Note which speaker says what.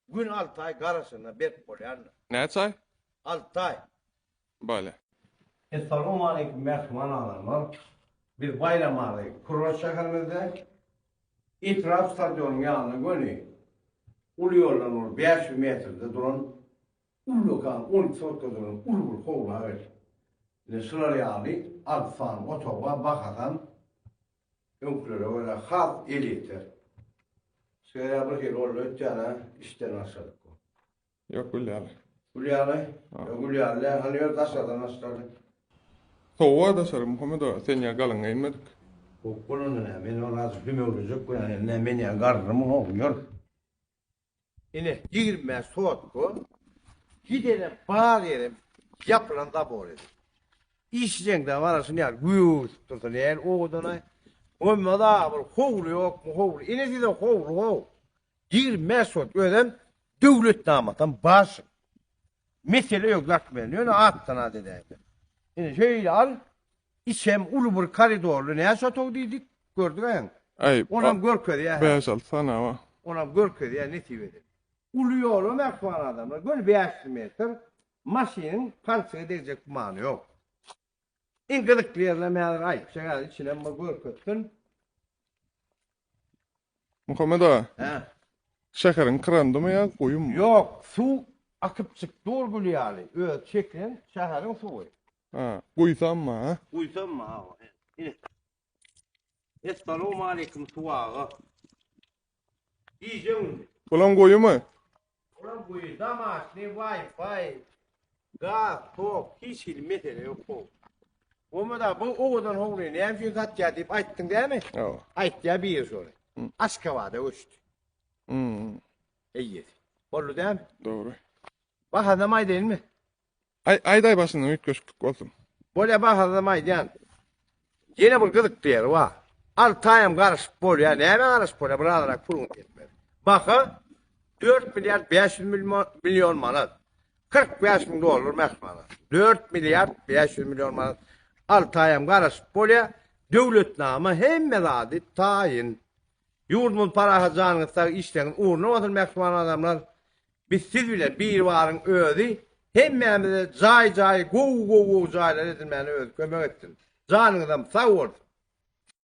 Speaker 1: Gün alty aý garaşanda berk bolýandyr. Näçe aý? Alty aý. Bolýa. Essalowmaleýkum mähriban adamlar! Biz baýramaly kurort şäherimizde, etrap stadionyň ýanyna göni uly ýoldan bir bäş ýüz metrde duran ullakan on iki sotkadygyny uly bir howla berdik. Ine şular ýaly alty sany otag bar, bahasan. Öňkülere görä has elýeter. Şeýle bir hili boldy ötýäne işden başladyk bu. Ýok gül ýaly. Gül ýaly? Ýok gül ýaly däl. Hany ýör daşardan başlaly. Sowuga daşary Muhammet aga sen ýa galyň geýinmedik. Bok bolanda nä men ol azajyk dümewlejek bilen nä men ýa garrymy howw ýör. Ine, ýigrimi bäş sotka gidenem, bar ýerem ýapylan zabor edi. Işjeňde mana şuny ýaly gögerdip dursa näl owadan-aý? Bolmaz-a, bir howly ýokmy, howly. Ine size howly-how. Ýigrimi bäş sotka özem döwlet namatam bar şuň. Mesele ýok, zat bilen. Ýöne atdan az edäýse. Ine, şeýle al, Içem uly bir koridorly näçe otag diýdik, gördüňäň. Äý, Onam görkezýär. bäş-alty sany, a. Onam görkezýär nesip edip. Uly ýola mähriban adamlar, göni bäş ýüz metr maşynyň palçygy degjek gümany ýok. Iň gyzykly ýerlerem häzir aýtjak, häzir içinem bir görkezsin. Muhammet aga, Hä. şäheriň kyrandymy ýa guýumy? Ýok, suw akyp çyk dur gül ýaly. Öz çekren şäheriň suwy. Ha, guýsammy, ha? Guýsammy, awa, he. Ine. Essalawmaleýkim suw aga. Gije-gündiz. Bulam guýumy? Olam gowy domaşnyý waýfaý gaz tok hiç hili mesele ýok gowy. Bolmada bu owadan howlyny näme üçin satýar diýip aýtdyň dämi? Hawa. Aýtýar biri şony. Aşgabada göçdi. Eýýesi. Boldy dämi? Dogry. Bahasyny hem aýdaýynmy? Aý aýdaý başyndan üýtgeşiklik bolsun. Bolýa bahasyzam aýdýan. Ýene bir gyzykly ýeri bar. Altaýam garaşyp bolýa. Nämä garaşyp bolýa bir azyrak puluň ýetmez. Baha dört milliard bäş ýüz million manat. Kyrk bäş müň dollar mähmana. Dört milliard bäş ýüz million manat. Altaýam garaşyp bolýa. Döwletnama hemme zady taýyn. Ýurdumyz parahat janyňyz sag işleňiz ugruna bolsun mähriban adamlar. Biz siz bilen Biribaryň özi hemmämize jaý jaý gowy gowy gowy jaýlar edilmäne özi kömek etsin. Janyňyzam sag bolsun.